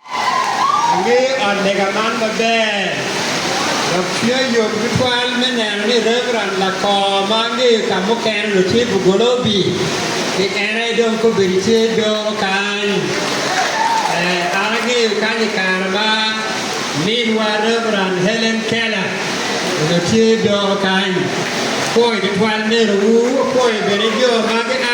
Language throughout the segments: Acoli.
Angeyo ot lega man maber dok tye yot tutwal me neno ni Reverend Lakor ma angeyo ka mukene onongo tye Bugolobi, ki en aye dong kobedi tye doro kany. Ee, an angeyo kany i kare ma minwa Reverend Helen Keller onongo tye doro kany. Apwoyo tutwal nenewu, apwoyo bene jo ma gia.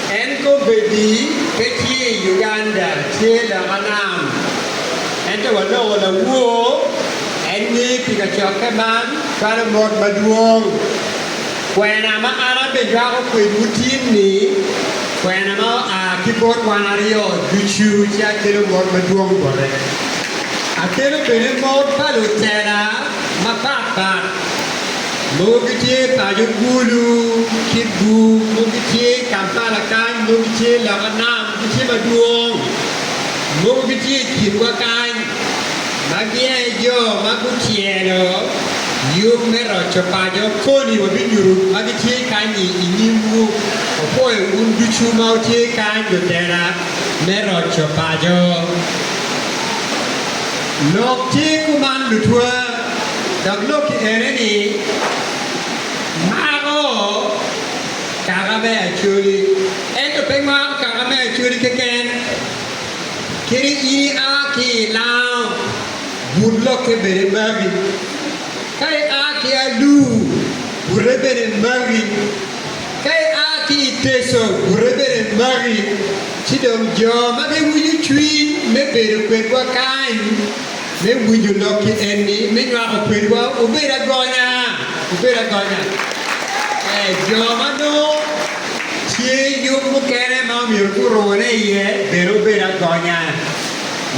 En kobedi pe tye i Uganda tye loka nam ento waloko lawor en ni pi kacokke man balo mot madwong. Kwena ma an abijwako kwedwu tin ni kwena ma oa ki bot wan aryo ducu ci akelo mot madwong bote. Akelo bene mot pa lutela mapat pat. mogo gitye paco Gulu, Kibbu, mogo gitye i Kampala kany, mogo gitye loka nam, gitye madwong, mogo gitye i kinwa kany, ma gia aye jo ma gutyelo yub me roco paco koni wabinyutu ma gitye kany-nyi i nyimwu. Wapwoyo wun ducu ma wutye kany lutela me roco paco. Lok tye kuman lutwa. Dok lok i eni-ni, maro kaka me Acholi, ento pe maro kaka me Acholi keken. Kadi in ia ki i lango, but lokke bene magi. Ka ia ki Alur, bute bene magi. Ka ia ki i Teso, bute bene magi. Ci dong jo ma giwinyo cwiny me bedo kwedwa kany. Me winyo lok ki en ni me nywako kwedwa obedo agonya, obedo agonya. Ee, jo ma nongo tye yub mukene ma omyero gurune iye bene obedo agonya.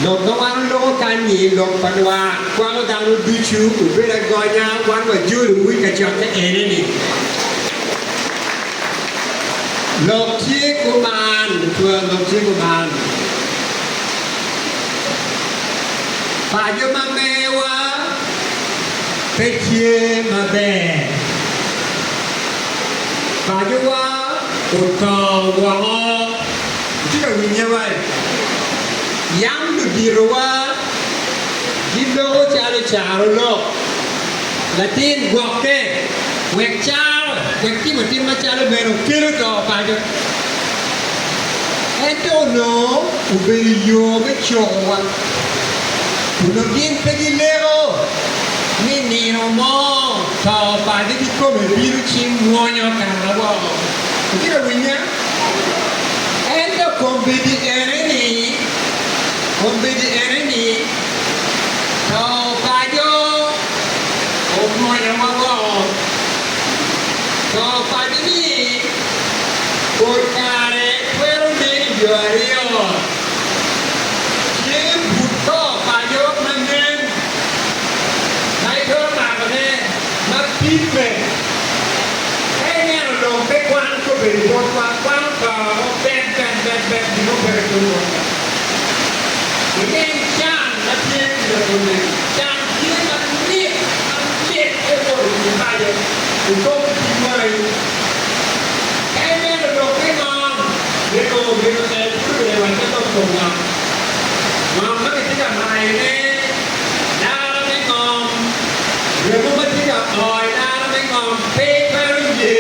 Lok ma wan oloko kany-nyi, lok pa lwak kwako dano ducu, obedo agonya wan wajolowu i kacokke ene-ni. Lok tye kuman, twero lok tye kuman. pa jo ma mewa pe tye maber. Pacowa oto woko. Wutye ka winnya wa? Yam luditowa giloko calo caro lok latin gwokke, wek caro, wek timotim macalo meno kelo to paco. Ento onongo obedo yo me cokowa, kun onongo gin pe gileko ni i nino mo to opagi kikome bino ci mwonyo kara woko. Itye ka winnya? Ento kombeddi enini, kombeddi enini, to opaco omwonyowa woko. To opagi ni. Pol kare twero neno jo aryo tye but to paco ma nen ma itwero makone ma pimme. Ka ineno dong pe kwano kobedi botwa, kwano to mubet bene bed bed gin mo pe ribbe botwa. Wuleng can ma tye i labollegi. Can tye mamit mamit, en mwodo cwinyi paco i kom tic wai. En bene odok te mar me nongo Jerucalem ci obedo wat me lok kom ngom. Ngom ma kitye ka mayone, Lara me ngom, remo ma tye ka o i lara me ngom pe twero ye.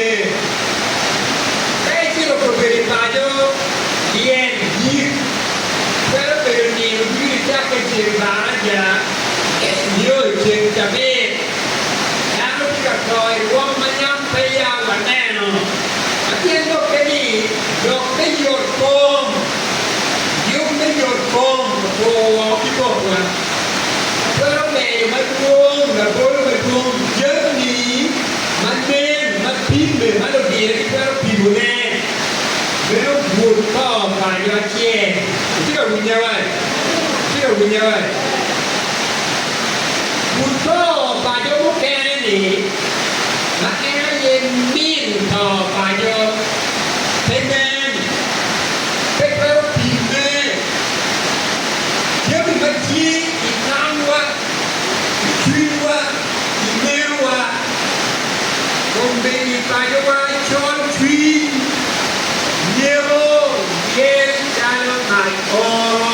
Ka icito ka obedo i paco, lyel, yik, twero bedo nino ducu nicakke ceng baraja nyo ceng cabit. Dano tye ka to i rwom ma nyam pe ya waneno. Ma tyen dokke ni, lok me yot kom. Yub me yot kom oturo woko ki komwa. Ma twero menyo madwong labolo madwong jammi ma nen, ma pimme, ma lubira gitwero pimone. Meno but pa okanyo acel. Wutye ka winya wa? Wutye ka winya wa? Guto pa jo mukene-ni, ma en aye min to pa jo, pe nen, pe twero pimme. Jami ma tye i tamwa, i cwinywa, i menowa, kong bedi pacowa, col cwiny, nyeko, myel, calo mac oro.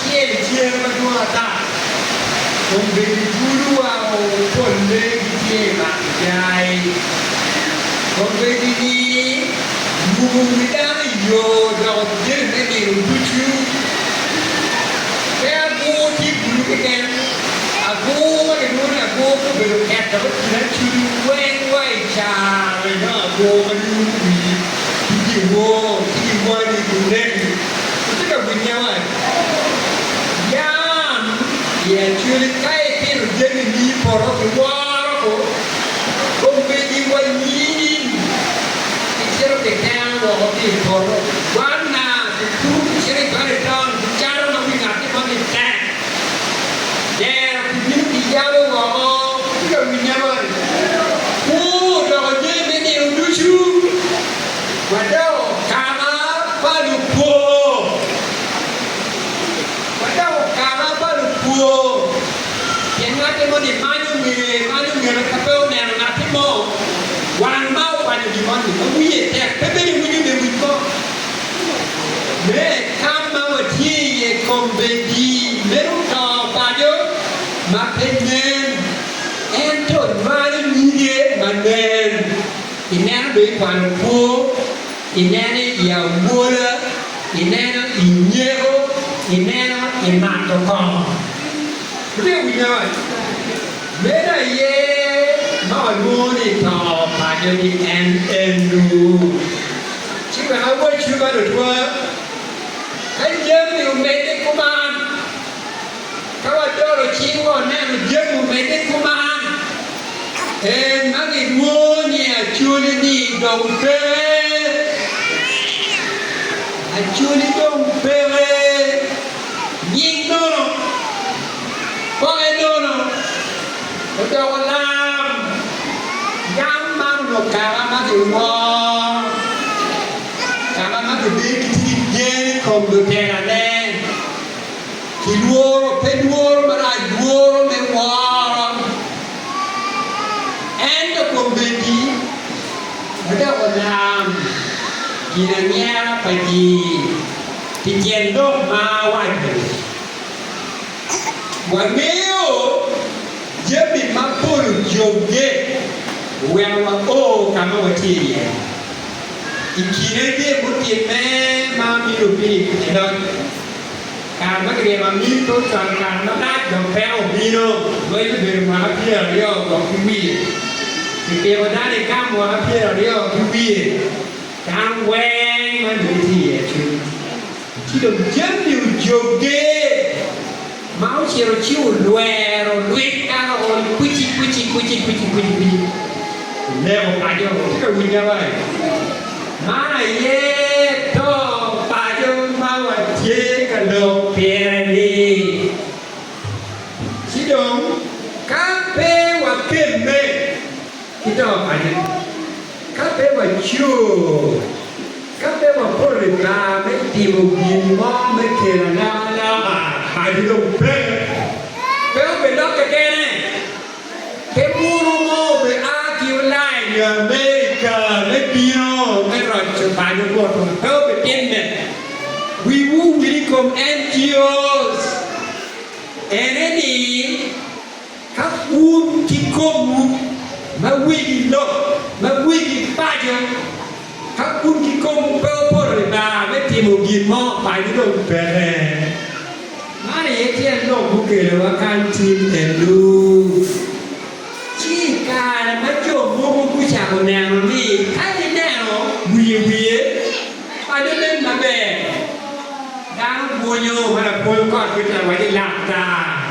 Pien i tyeng madwong ata, kombeddi bulu wa o, pol lee gitye i mak jai. Kombeddi-ni rumo wi dano i yo dok odyere me nino ducu. Pe agur tye bulu keken, agur ma gilwongo ni agur me obedo keta me kin acudu weng wa i carre dok agur ma nyumo wi ki dyewor ki dyewani guneki. Watye ka winye wai. Yam i Acholi ka ipito jamini i poto kiworo ko omegi wa nying kicito kiteno woko ki i poto gwanna kikuto kicito i bali taun kicato ma wi ngat mo ni tek dero kibino kiyabo woko. Watye ka winye wai. Kwo odoko jami me nino ducu. Wadoko kama pa lupwo. Wadoko kama pa lupwo pien ngati mo ni manyo ngeye, manyo ngete ka pe oneno ngati mo. Wan ma okwanyo gin moni ma wiye tek pe bene winyo lewic mo me tam ma watye iye kombeddi meno to paco ma pe nen ento nywalo nyige ma nen. i neno dong i kwano kwo, i neno i awola, i neno i nyeko, i neno i mato kongo. Wutye winyo moni? Meno aye ma walwongo ni to pa nyogi en enu. Ci wek awacciwu man otwa, ka jami omedde kuman. ka wadolo cingwa waneno jami omedde ku man, en ma gilwongo ni acholi-ni dong peke. Acholi dong peke, nying nono, poke nono, odoko lam. Yam man onongo kama ma giwor, kama ma gibedo gitye ki gen i kom lutelane. ki lworo, pe lworo marac, lworo me woro, ento kombeddi wadok walam ginanyera pa ji, pi tyen lok ma awaco-ni. Wangeyo jami ma pol ocobbe oweko wao ka ma watye iye. I kine tye mutimme ma mino Pilip i loc. Kare ma giryemo amir pe ocwalo ngat malac dok peko obino. Lweny obedo mwaka pyeraryo dok ki wiye. Kipiko dano i kam mwaka pyeraryo ki wiye. Dano weng ma nongo gitye i Acuc ci dong jami ojogge ma ocito ci olwero lweny dano ony kwici kwici kwici kwici kwici kwici. Olego paco, wutye ka winyawa-i? Man aye dong paco ma watye ka lok pire-ni. Ci dong, ka pe wakemme ki to paco, ka pe wacur, ka pe wapoto i kare me timo gin mo me kelo alokaloka, paco dong pe, pe obilokke kene. Pe buru mo obe a ki olaija me i karene bino me roco paco botwa. Pe obe timme. Wi wu wil i kom NGOs. Ene ni, ka wun ki kom wu ma wigi lok, ma wigi paco, Ka kun kikomwu pe opoto libaa me timo gin mo, paco dong peke. Man aye tyen lok mukelowa kany tit Eluf. Ci i kare ma jo mogo gucako neno ni ka ineno wiye wiye, paco nen maber, dano bwunyo ma lapwony kot kit lawac-ci lata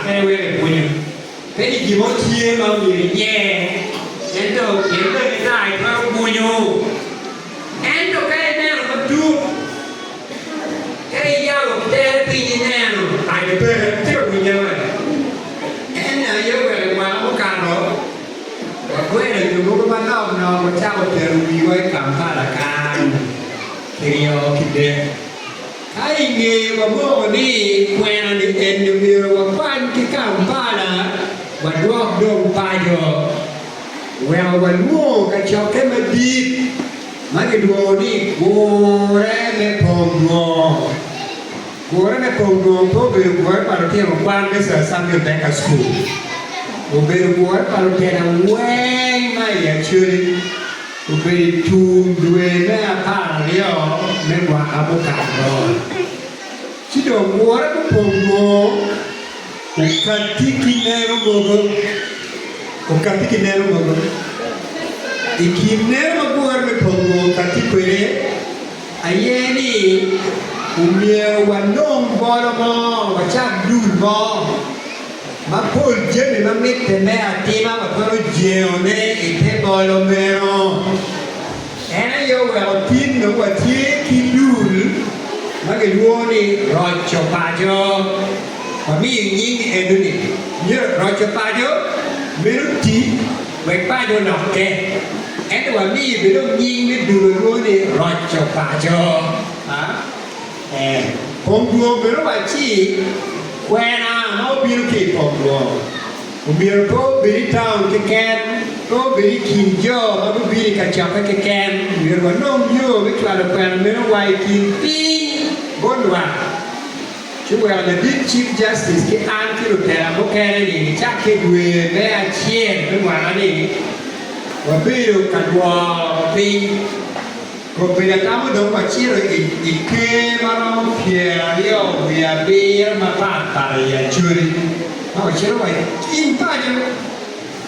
pe wek ebwunyo. Peni gin mo tye ma omyero inyer, ento pien bedo ni kare twero gunyu. Ento ka ineno matut, ka iyabo tere piny ineno paco bene, tye ka winye wa. En aye wek i mwaka mukato, wagwelo jo mogo manok nok wacako tero wiwa i Kampala kany, kiryo ki dek. Ka i ngeye wamoko ni kwena-ni eni omyero wakwany ki Kampala wadwok dong paco, oweko walwongo kacokke madit ma gilwongo ni Gure me Pong Nwo. Gure me Pong Nwo pe obedo gure pa lutino kwan me Sir Samuel Baker School. Obedo gure pa lutino weng ma i Acholi. Obedo i tung dwe me apar aryo me mwaka mukato, ci dong wora mupong dwong okatti ki neno mogo, okatti ki neno mogo. I kin neno ma wora me pong dwong okatti kwede aye ni omyero walong bolo mo, wacak dul mo. Mapol jami ma mitte me atima watwero jengone i te bolo meno. En aye oweko tinno watye ki dul ma gilwongo ni roco paco. Wamiyo nying eno-ni myero roco paco meno oti wek paco olokke. Ento wamiyo bene dong nying me dul ma lwongo ni roco paco. Ee, kom dwong bene wa ci kwena ma obino ki i kom dwong omyero pe obed i taun keken, pe obed i kin jo ma gubino i kacokke keken. Myero wanong yo me cwalo kwena meno wa i kin piny bot lwak, ci weko ladit Chief Justice ki an ki lutela mukene ni gicak ki i dwe me acel me mwaka-ni wabedo ka lworo piny. Kobedi atamo dong wacito i ker ma romo pyeraryo wiye abiro mapat pat i Acholi ma wacito wa i paco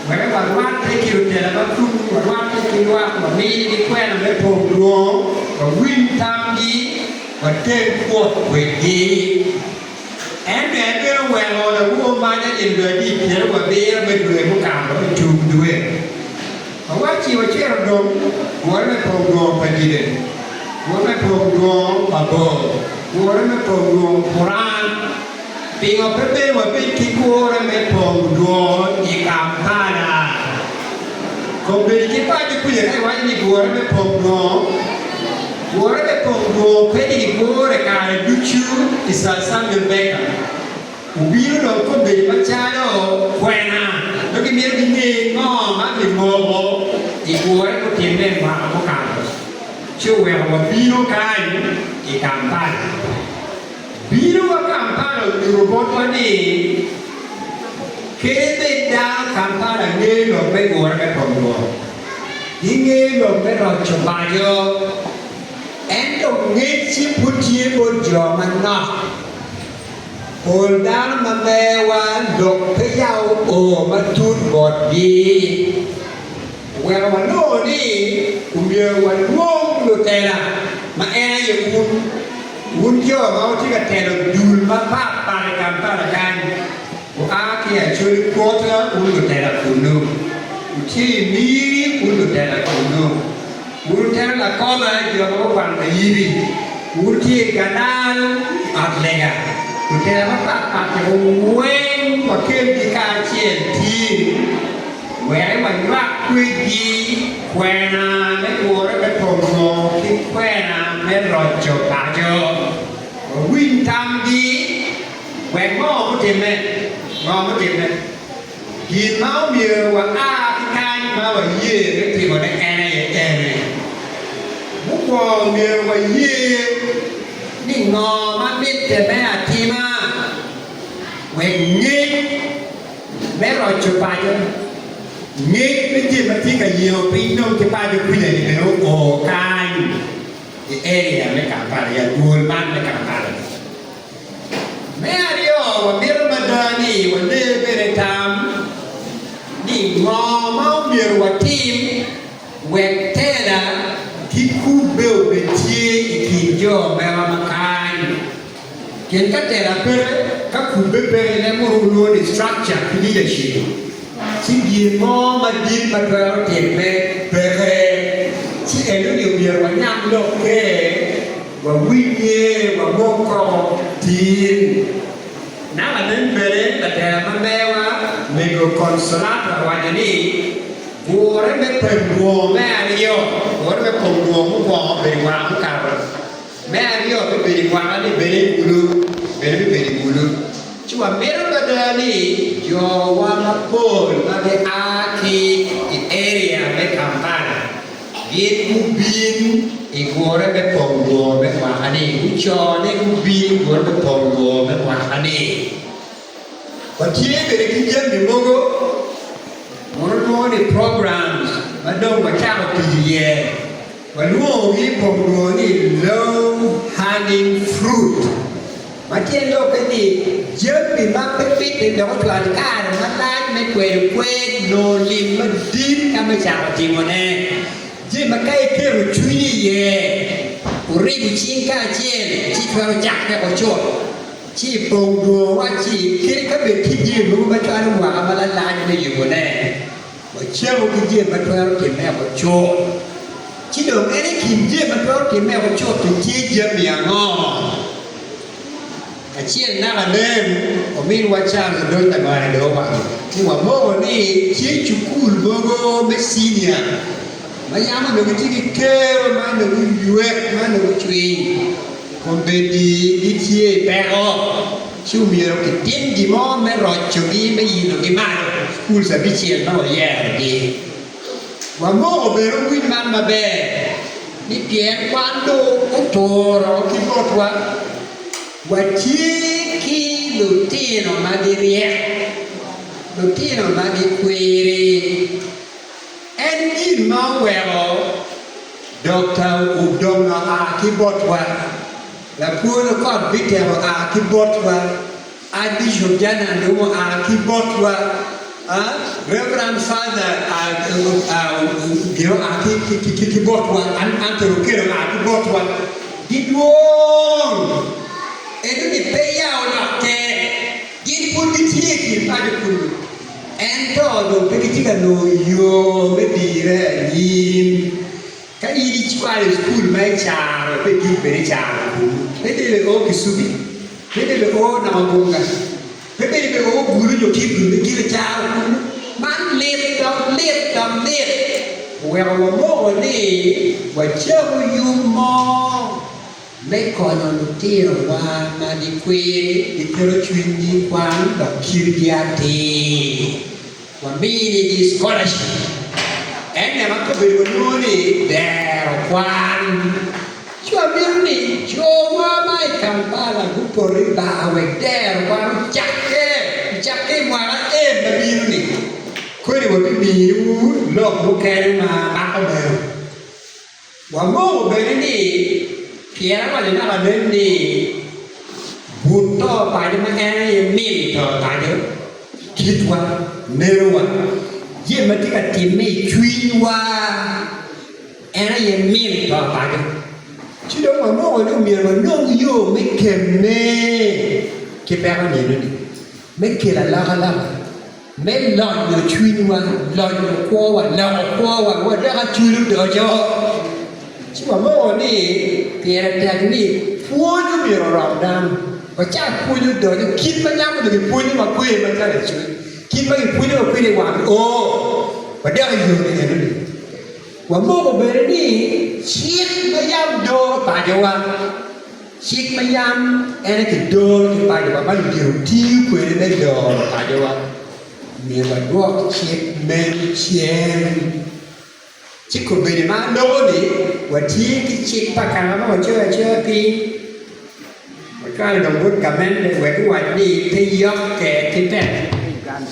wek warwatte ki lutela ma tum, warwatte ki lwak, wamigi kwena me pong lwongo, wawiny tamgi, water kwot kwedgi. Ento en bene oweko lawowo mac anyira dwe adiit pyeraryo abiro me dwe mukato i tung dwe ma wacci ocito dong, wore me pongdwong pa dide, wore me pongdwong pa bor, wore me pongdwong Quran. Pingo pe bedo wabed ki kure me pongdwong i Kampala? Kombeddi ki paco kuca ka iwaco ni wore me pongdwong Wore me pong dwongo pe ni gigure kare ducu i Sir Samuel Baker obino dong kombeddi macalo kwena dong gimito ginge ngo ma kimoko i gure mutimme i mwaka mukato ci oweko wabino kany i Kampala. Bino wa Kampala onyuto botwa ni kadi bed dano Kampala ngeyo lok me gure me pong dwongo, gingeyo lok me roco paco, ento ngecci pud tye bot jo manok. Pol dano ma meyowa lok pe yabo o matut botgi. Oweko wanongo ni omyero walwong lutela ma en aye wun, wun jo ma wutye ka telo dul mapat pat i Kampala kany, Wua ki acoli kwota wun lutela kunnu, wutye i miri wun lutela kunnu, wun lutela lakoba jo ma gukwano mayibi, wutye i galal i ot lega, lutela mapat pat jo weng wakelgi kacel tir, wek wanywak kwedgi kwena me gure me pongo ki kwena me roco paco, wawiny tamgi. Wek ngo gutimme? Ngo gutimme? Gin ma omyero wa a ki kany ma waye me timone en aye ene, mukwongo omyero waye ni ngo ma mitte me atima wek ngec me roco paco, ngec me jami ma tye ka yengo piny dong ki paco kuca-ni bene oo kany i area me Kampala, i adwol man me Kampala. Me aryo, wamito mada ni waler kwede tam ni ngo ma omyero watim wek tela ki kubbe obed tye i kin jo mema ma kany. Pien ka tela peke, ka kubbe peke, ne mono wulwongo ni structure ki leadership, ci gin mo madit ma twero timme peke. Ci eno ni omyero wanyam lokke. Wawinye wamok kong tin. Naka lanen bene latera ma meya-wa mego Consolato awaco ni, Gure me pem dwongo me aryo, gure me pem dwongo mukwongo obedo i waka mukato, me aryo me bedo i waka ni bene i ulu, bene me bedo i ulu. Ci wamito mada ni jowa mapol ma gia ki i area me Kampala Gin gubin i gure me pong lworo me mwaka-ni. Gucone gubin i gure me pong lworo me mwaka-ni. Watye bene ki jami mogo ma walwongo ni programs ma dong wacako tic iye. Walwongogi i pong lworo ni low hanging fruit. Ma tyen lokke ni, jami ma pe mitte dok ocwalo kare malac me kweyo kwer nongo lim madit ka me cako timone. Jami ma ka iketo cwinyi iye, wuribo cing kacel, ci itwero cak peko cut, ci ipong dwongo wacci kit ka bed tye jami mogo ma cwalo mwaka malalac me yubone. Wacamo ki jami ma twero timme wek ocut, ci dong en i kin jami ma twero timme wek ocut-ti tye jami ango? Acel naka nen, ominwa Charles Odony Labongo dong owaco ni wamoko ni tye cukul mogo me cinia ma yam onongo gitye ki kero ma onongo guywek ma onongo gucwiny kun bedi gitye i peko. Ci omyero itim gin mo me rocogi, me yinogi malo i Cukul Cabicel ma wayerogi. Wamoko bene winy man maber ni pien wan dong oturo ki botwa, watye ki lutino ma giryek, lutino ma gikwiri. En gin ma oweko Dokta Udoma a ki botwa. Labolo kot bitemo a ki botwa, Archbishop Jana Ndung'u a ki botwa, Reverend Father Ogingo a ki botwa, Anthony Okello a ki botwa. Gidwong ento ni peya olok ter, gin pud gitye i kin paco kunu ento dong pe gitye ka nongo yo me dire anyim. Ka in icwayo i cukul ma icaro ipe dit bene icaro labongi me debe o kisubi, me debe o nongo gunga, me bedo me o bulu nyo kidul me gin icaro kulu. Man lit dok lit dok lit! Oweko wamoko ni wacabu yub mo me konyo lutinowa ma gikwir giketo cwinygi i kwan dok kitgi atir. Wamini-gi scholarship. En ne ma kobedo walwongo ni dero kwan. Ci wamito ni cowa ma i Kampala gupot i bar wek dero kwan ocakke ocakke i mwaka en ma bino-ni. Kodi wabimiwu lok mukene ma mako meno. Wanongo bene ni pien awaco naka anen ni but to paco ma en aye mil to paco, kitwa, nerowa, jami ma tye ka timme i cwinywa, en aye mil to paco. Ci dong wanongo ni omyero wanong yo me kemme ki peko nino-ni, me kelo alokaloka. me lonyo cwinywa, lonyo kwowa, loko kwowa wadoko acwiny odoco, ci wamoko ni pire tek ni pwony omyero orom dano. Wacak pwony odoco, kit ma nyam onyo gipwonyowa kwede ma calo lacoc, kit ma gipwonyowa kwede i wang o, wadok i yo ni enoni. Wamoko bene ni cik ma yam doro pacowa. Cik ma yam en aye kidoro ki pacowa ma ludyelo tiyo kwede me doro pacowa, myero wadwok cik meno cen. Ci kobedi ma aloko ni watye ki cik pa kare ma wacoyo acoya piny, wacwalo dong bot gamente wek guwac ni pe yokke ki tek me Uganda.